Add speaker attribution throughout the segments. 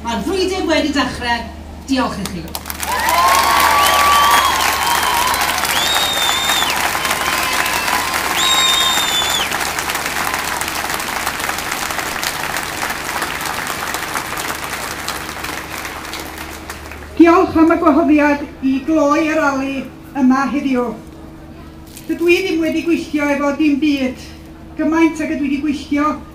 Speaker 1: Mae'r frwydr wedi dechrau. Diolch i chi. Diolch am y gwahoddiad i gloi y rali yma heddiw. Dydw i ddim wedi gweithio efo dim byd gymaint ag ydw i wedi gweithio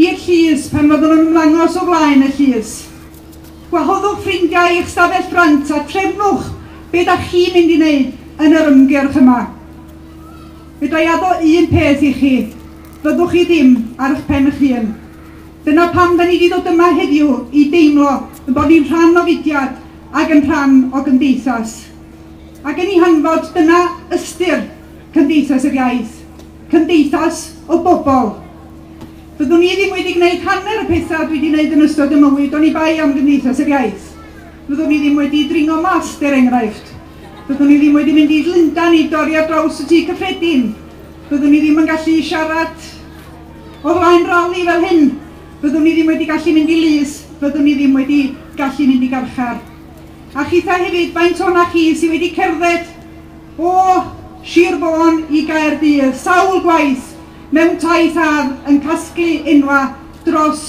Speaker 1: I'r llys, pan fyddwn yn ymlangos o flaen y llys. Gwahoddwch ffrindiau i'ch stafell ffrynt a trefnwch be da chi'n mynd i wneud yn yr ymgyrch yma. Fedra i addo un peth i chi, fyddwch chi ddim ar ych pen ych hun. Dyna pam da ni di ddod yma heddiw, i deimlo yn bod ni'n rhan o fudiad ac yn rhan o gymdeithas. Ac yn i hanfod, dyna ystyr Cymdeithas yr Iaith. cymdeithas o bobl. Fyddwn i ddim wedi gwneud hanner y pethau dwi wedi gwneud yn ystod y mywyd oni bai am Gymdeithas yr Iaith. Fyddwn i ddim wedi dringo mallt, er enghraifft. Fyddwn i ddim wedi mynd i Lundan i dorri ar draws y Tŷ Cyffredin. Fyddwn i ddim yn gallu siarad o flaen rali fel hyn. Fyddwn i ddim wedi gallu mynd i lys. Fyddwn i ddim wedi gallu mynd i garchar. A chitha hefyd, faint o'na chi sydd wedi cerdded O Sir Fôn i Gaerdydd, sawl gwaith mewn taith ar yn casglu enwa dros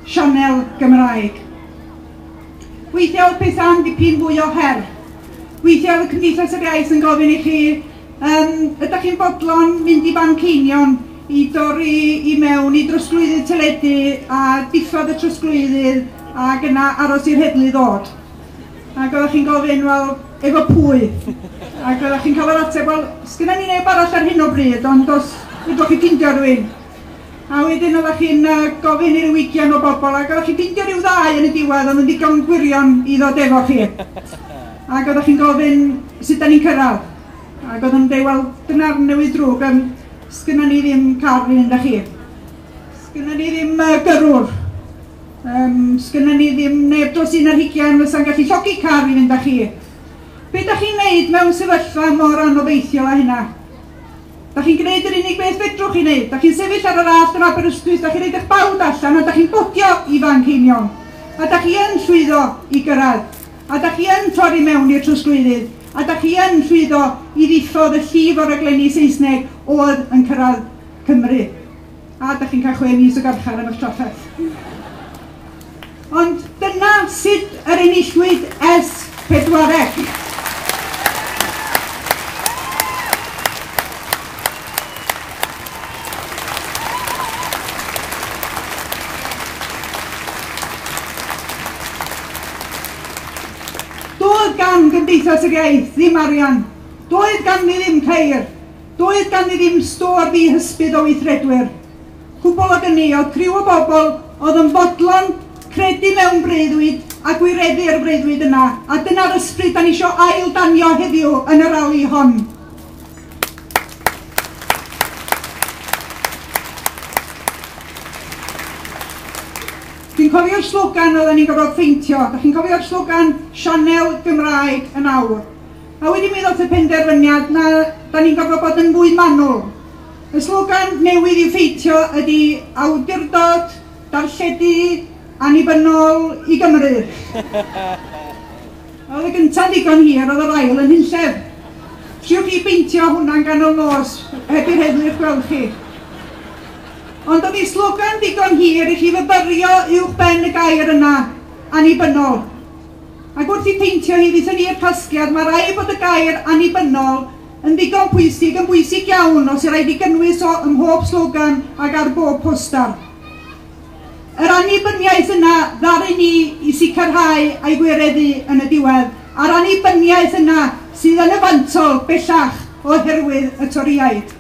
Speaker 1: sianel Gymraeg. Weithia oedd pethau'n dipyn fwy o her. Weithia oedd y Cymdeithas yr Iaith yn gofyn i chi, um, ydych chi'n bodlon mynd i fanceinion i dorri i mewn i drosglwyddydd teledu a diffodd y trosglwyddydd ac yna aros i'r heddlu ddod. Ac oeddech chi'n gofyn, wel, efo pwy? Ac oeddech chi'n cael yr ateb, wel, sgynna ni neb arall ar hyn o bryd, ond os ydwch chi ffeindio rhywun. A wedyn oeddech chi'n uh, gofyn i'r wigian o bobl, ac oeddech chi'n ffeindio rhyw ddau yn y diwedd, ond yn ddigon gwirion i ddod efo chi. Ac oeddech chi'n gofyn sut da ni'n cyrraedd. Ac oeddech chi'n dweud, wel, dyna'r newid drwg, um, sgynna ni ddim car i fynd â chi. Sgynna ni ddim uh, gyrrwr. Yym, sgynna ni ddim neb dros un ar hugain fysa'n gallu llogi car i fynd â chi. Be da chi'n neud mewn sefyllfa mor anobeithiol â hynna? Da chi'n gwneud yr unig beth fedrwch chi wneud. Da chi'n sefyll ar yr allt yn Aberystwyth, da chi'n rhaid eich bawd allan a da chi'n bodio i Fanceinion. A da chi yn llwyddo i gyrraedd. A da chi yn torri mewn i'r trosglwyddydd. A da chi yn llwyddo i ddiffodd y llif o raglenni Saesneg oedd yn cyrraedd Cymru. A dach chi'n cael chwe mis o garchar am eich trafferth. Ond dyna sut yr enillwyd ers pedwaredd. Doedd gan Gymdeithas yr Iaith ddim arian, doedd ganddi ddim ceir, Doedd ganddi ddim stôr ddi hysbydd o weithredwyr. Cwbl ag ynni, o'dd criw o bobl o'dd yn fodlon credu mewn breuddwyd a gwireddu yr freuddwyd yna, a dyna'r ysbryd 'dan ni isio ail danio heddiw yn y rali hon. Dwi'n cofio'r slogan o'ddan ni'n gorfod pheintio, 'dach chi'n cofio'r slogan Sianel Gymraeg yn awr? A wedyn mi ddoth y penderfyniad na, da ni'n gorfod bod yn fwy manwl. Y slogan newydd i ffeithio ydy awdurdod, darlledu, annibynnol i Gymru. Oedd y gynta'n ddigon hir, oedd yr ail yn hunllef. Triwch chi beintio hwnna'n ganol nos, heb i'r heddlu eich gweld chi. Ond oedd ei slogan ddigon hir i chi fyfyrio uwch ben y gair yna, annibynnol. Ac wrth i peintio hi ddythyn i'r casgliad, mae rhaid bod y gair 'annibynnol' yn ddigon pwysig, yn bwysig iawn os yw'r rhaid i gynnwys o ym mhob slogan ac ar bob poster. Yr annibyniaeth yna ddaru ni i sicrhau a'i gwireddu yn y diwedd, a'r annibyniaeth yna sydd yn y fantol bellach oherwydd y Torïaid.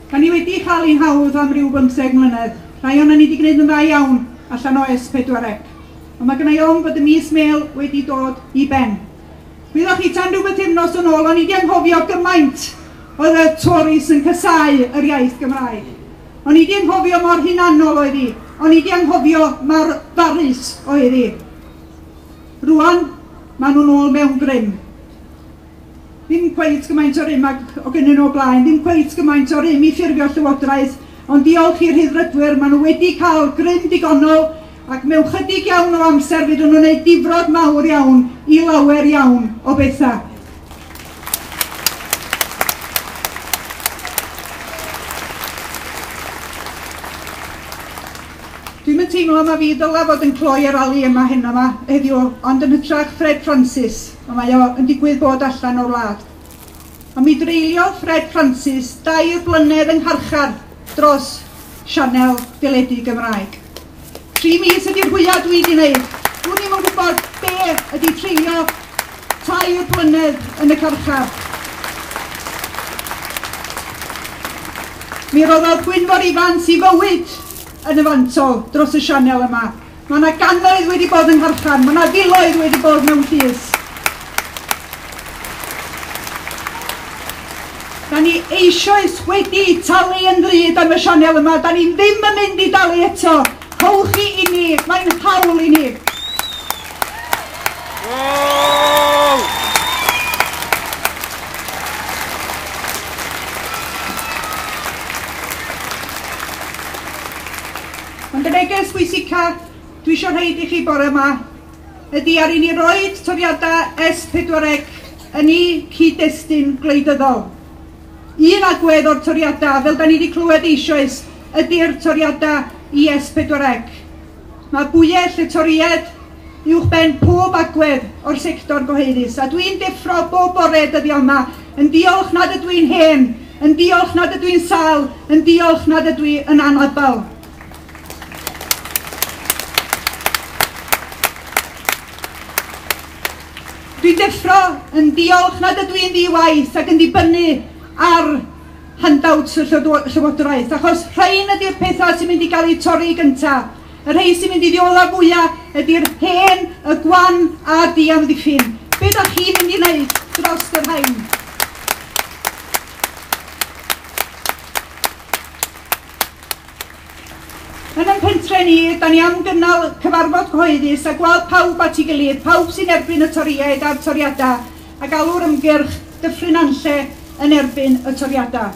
Speaker 1: Da ni wedi cael ein hawdd am ryw bymtheg mlynedd. Rhai o'n ni wedi gwneud yn dda iawn allan o S4C. Ond mae gennau ofn bod y mis mêl wedi dod i ben. Gwyddoch chi tan rhyw bythefnos yn ôl, o'n i wedi anghofio gymaint oedd y Tories yn casau yr iaith Gymraeg. O'n i 'di anghofio mor hunanol oedd hi. O'n i 'di anghofio mor barus oedd hi. Rwan, maen nhw'n ôl mewn grym. Ddim cweit gymaint o rym ag o gynnyn nhw o blaen, ddim cweit gymaint o rym i ffurfio llywodraeth, ond diolch i'r Rhyddfrydwyr, maen nhw wedi cael grym digonol ac mewn chydig iawn o amser fyddwn yn ei difrod mawr iawn i lawer iawn o bethau. Dwi'n yn teimlo mae fi ddyla fod yn cloi ar ali yma heno yma heddiw, ond yn hytrach Fred Francis, a mae o yn digwydd bod allan o'r wlad. Ond mi dreuliodd Fred Francis dair blynedd yng ngharchar dros sianel deledu Gymraeg. Tri mis ydy'r fwya dwi wedi wneud. Dwn i'm yn gwybod be ydy treulio tair blynedd yn y carchar. Mi roddodd Gwynfor Ifans i fywyd yn y fantol dros y sianel yma. Mae yna gannoedd wedi bod yng Ngharchan, mae yna filoedd wedi bod mewn llys. Da ni eisoes wedi talu yn ddrud am y sianel yma, da ni ddim yn mynd i dalu eto. Howch chi i ni, mae'n hawl i ni. Ond y neges bwysica dwi isio rhoid i chi bore yma ydy ar i ni roed toriadau S pedwar ec yn i cyd-destun gwleidyddol. Un agwedd o'r toriadau, fel da ni wedi clywed eisoes, ydy'r toriadau i S pedwar ec. Mae bwyell y toried uwchben pob agwedd o'r sector gyhoeddus, a dwi'n deffro bob bore dyddiau yma yn diolch nad ydw i'n hen, yn diolch nad ydw i'n sal, yn diolch nad ydw i yn anabl. Dwi'n deffro yn diolch nad ydw i'n ddi-waith ac yn dibynnu ar handouts y llywodraeth, achos rhain ydy'r pethau sy'n mynd i gael eu torri gyntaf. Y rhei sy'n mynd i ddiodda fwya ydy'r hen, y gwan a'r diamddiffyn. Be da chi'n mynd i wneud dros yr rhain? Yn y pentre ni, da ni am gynnal cyfarfod cyhoeddus a gweld pawb at ei gilydd, pawb sy'n erbyn y toriaid a'r toriadau, a galw'r ymgyrch Dyffryn Anlle yn erbyn y toriadau.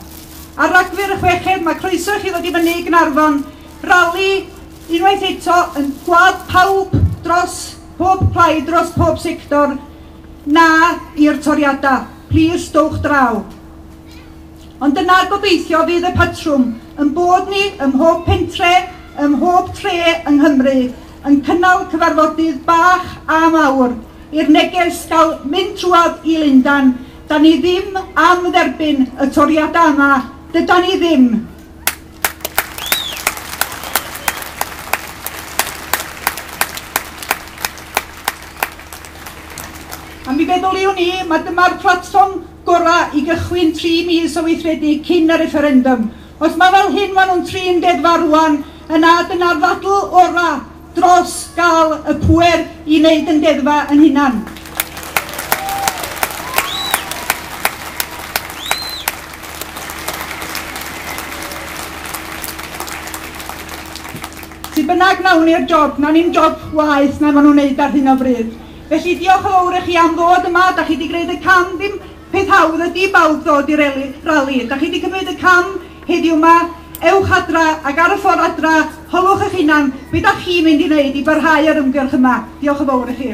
Speaker 1: Ar Ragfyr y chweched, mae croeso i chi ddod i fyny i Gnarfon Rali, unwaith eto, yn gwlad pawb dros pob plaid, dros pob sector, na i'r toriadau. Plis, dowch draw. Ond dyna gobeithio fydd y patrwm, yn bod ni ym mhob pentre, ym mhob tre yng Nghymru, yn cynnal cyfarfodydd bach a mawr, i'r neges gael mynd trwad i Lundan, da ni ddim am dderbyn y toriadau yma, dyda ni ddim. A mi feddyliwn i, mae dyma'r platfform gorau i gychwyn tri mis o weithredu cyn y refferendwm. Os mae fel hyn maen nhw'n trin deddfa rwan, yna dyna'r ddadl orau dros gael y pŵer i wneud yn deddfa yn hunan. Sut bynnag nawn ni'r job, na ni'n job waeth na maen nhw'n wneud ar hyn o bryd. Felly diolch yn fawr i chi am ddod yma, da chi wedi gwneud y cam ddim Peth hawdd ydi i bawb ddod i'r rali. Ydach chi wedi cymryd y cam heddiw yma? Ewch adra ac ar y ffordd adra, holwch eich hunan beth ydach chi'n mynd i wneud i barhau â'r ymgyrch yma. Diolch yn fawr i chi.